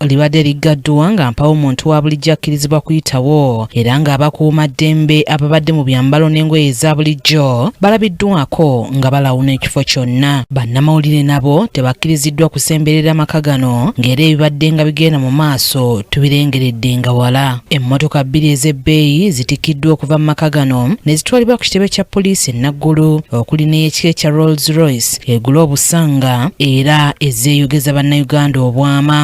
libadde liggaddwa nga mpawo muntu wa bulijjo akkirizibwa kuyitawo era ng'abakuuma ddembe ababadde mu byambalo n'engoye eza bulijjo balabiddwako nga balawuna ekifo kyonna bannamawulire nabo tebakkiriziddwa kusemberera maka gano ng'era ebibadde nga bigenda mu maaso tubirengeredde nga wala emmotoka bbiri ez'ebbeeyi zitikiddwa okuva mu maka gano ne zitwalibwa ku kitebe kya poliisi e naggulu okuli n'eyekika ekya rolls royce egula obusanga era ezeeyogeza bannayuganda obwama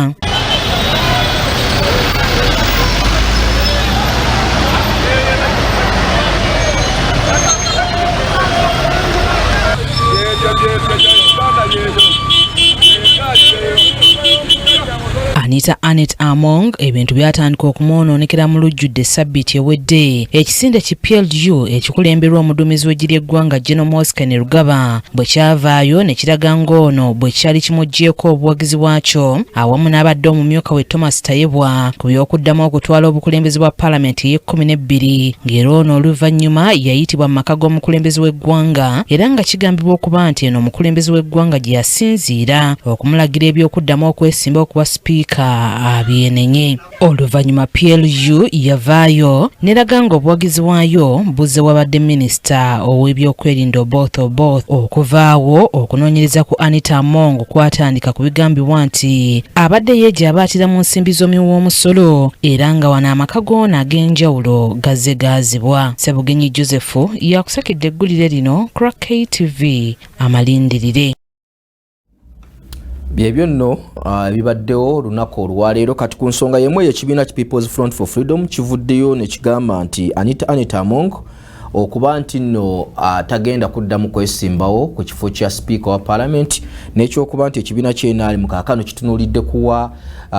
Anita Anet Among ebintu byatandika okumwonoonekera mu lujjudde ssabbiiti ewedde ekisinde ki PLU ekikulemberwa omuduumizi w'eggye ly'eggwanga General Mosi Kainerugaba bwe kyavaayo ne kiraga ng'ono bwe kyali kimuggyeeko obuwagizi bwakyo awamu n'abadde omumyuka we Thomas Tayebwa ku by'okuddamu okutwala obukulembeze bwa palamenti ey'ekkumi n'ebbiri ng'era ono oluvannyuma yayitibwa mu maka g'omukulembeze w'eggwanga era nga kigambibwa okuba nti eno omukulembeze w'eggwanga gye okusinziira okumulagira eby'okuddamu okwesimba okuba sipiika abyenenye oluvannyuma plu yavaayo neraga nga obuwagizi bwayo buzze wabadde minisita ow'ebyokwerinda oboth oboth okuvaawo okunoonyereza ku anita among kwatandika ku bigambibwa nti abadde yeegya abaatira mu nsimbi z'omuwi w'omusolo era nga wano amaka goona ag'enjawulo gazze gaazibwa sebugenyi joseph yakusakidde eggulire lino crack ktv amalindirire byebyo nno ah, ebibaddewo olunaku olwaleero kati ku nsonga yemu eyo ekibiina ki peoples front for freedom kivuddeyo nekigamba nti anita anita among okuba nti nno ah, tagenda kuddamu kwesimbawo ku kifo kya sipiika wa palamenti n'ekyokuba nti ekibiina kyenali mu kakano kitunulidde kuwa ah,